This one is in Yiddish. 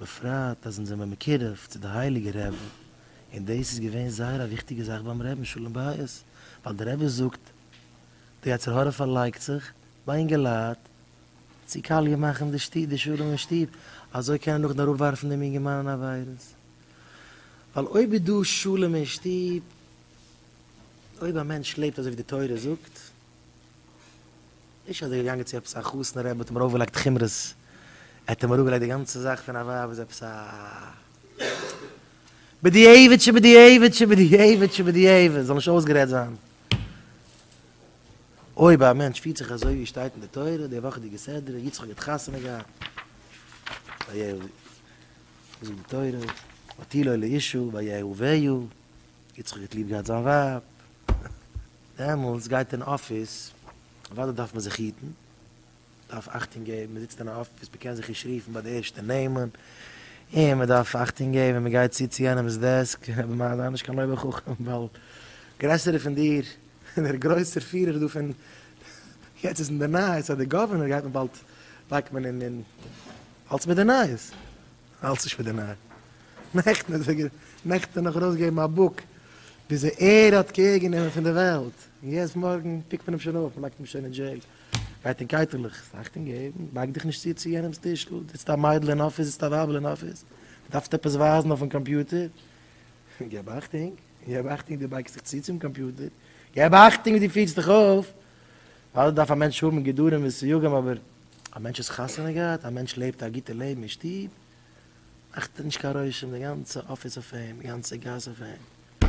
בפרט אז אונז זעמער מקורב צו די הייליגע רעבע, און דאס איז געווען זייער א וויכטיגע זאך ביים רעבן שלום בית, ווייל די רעבע זאגט, די יצר הרע פארלייגט זיך ביי אינגעלייט צו קאליע מאכן די שטוב, די שלום אין שטוב, אזוי קען ער נאכדעם אראפ ווארפן דעם אינגערמאן אין עבירות, ווייל אויב איז דא שלום אין שטוב, אויב א מענטש לעבט אזוי ווי די תורה זאגט, נישט אז ער איז געגאנגען צו עפעס א חתן רבי האט אים ארויפגעלייגט חומרות, ער האט אים אראפגעלייגט די גאנצע זאך פון א ווייב איז עפעס א בדיעבד שבדיעבד שבדיעבד שבדיעבד, זאל נישט אויסגערעדט זיין. אויב א מענטש פירט זיך אזוי ווי שטייט אין די תורה, די וואכעדיגע סדרה, יצחק האט חתונה געהאט, ויהי ו, וואס זאגט די תורה, ותהי לו לאישה, ויהי ו ויהי ו, יצחק האט ליב געהאט זיין ווייב. דעמאלטס גייט אין אפיס, אוודאי דארף מען זיך היטן, דארף אכטונג געבן, מען זיצט אין א אפיס, מען קען זיך נישט רופן ביי די ערשטע נעמען, און מען דארף אכטונג געבן ווען מען גייט צו צו יענעמ'ס דעסק, אבער מע זיי נישט קיין אויבער חכם, ווייל גרעסערע פון דיר, דער גרויסער פירער דא פון, יעצט איז אין די נייעס אז דער גאווערנער גייט מען באלד, לייגט מען אין, אלס מיט די נייעס. האלטסט נישט מיט די נייע נעכטן האט ער נעכטן נאך ארויסגעגעבן א בוק וויאזוי ער האט קעיר גענומען פון די וועלט און יעצט מארגן פיקט מען אים שוין אויף מ'לייגט אים שוין אין דזשעיל גייט אין קייטעלעך ס'אכטונג געבן בייג דיך נישט צו צו יענעמס טישל די זיצט א מיידל אין אפיס זיצט א ווייבל אין אפיס די דארפסט עפעס ווייזן אויפן קאמפיוטער געב אכטונג געב אכטונג די בייגסט דיך צו צום קאמפיוטער געב אכטונג ווי די פירסט דיך אויף ווייל דארף א מענטש האבן גדרים וסיוגים אבער. א מענטש האט חתונה געהאט, א מענטש לעבט א גוטע לעבן אין שטוב, מאכט נישט קיין רושם די גאנצע אפיס אויף אים, די גאנצע גאס אויף אים.